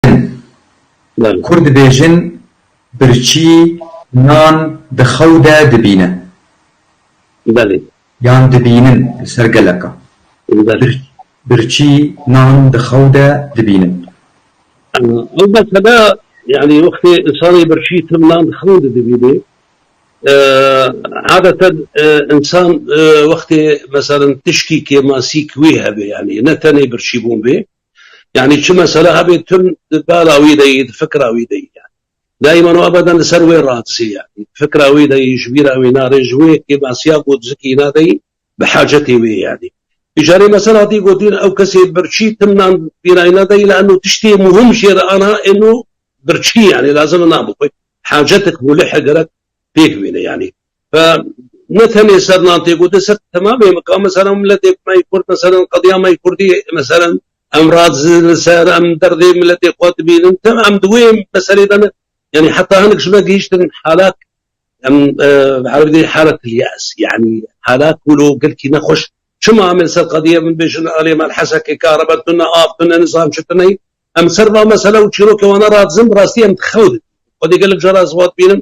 dibînin. Kurd dibêjin birçî nan di xew de dibîne. Yan dibînin li ser geleka. Birçî nan di xew de dibînin. Ew mesela yanî wextê însanê birçî tim nan di xew de dibînê. Adeten însan wextê meselin tişkî kêmasîk wî hebe yanî ne tenê birçîbûn bê. Yanî çi mesele hebe tim di bala wî de yî, di fikra wî de yî yanî. Daîman û ebeden li ser wê radizê yanî. Di fikra wî de yî, ji bîra wî nare, ji wê yekê nasiya ku di zikî îna de yî, bi hacetê wê yanî. Bi carê mesela hatî gotin ew kesê birçî tim nan bîra îna de yî lianno tiştê muhim jê re ana êno birçî yanî lazim e nabixwe. Hacetik mûlih e gerek pêk bîne yanî. Ve ne tenê ser nan tê gotin ser temamê min ka meselen miletê me yê kurd meselen qediya me yê kurdî meselen em radizin li ser em derdê miletê xwe dibînin tim em di wê meselê de ne yanî heta hinek ji me gihîştin halat em bi erebî dê halet yas yanî halat wilo girkî nexweş çima em ê ser qediye min bêjin alê me hesekê karebe tu ne av tu ne nizam çi tu neyî em ser va mesele û çîrokê wan ne radizin bi rastî em dixew didin xwedê gelek cara ez vat bînim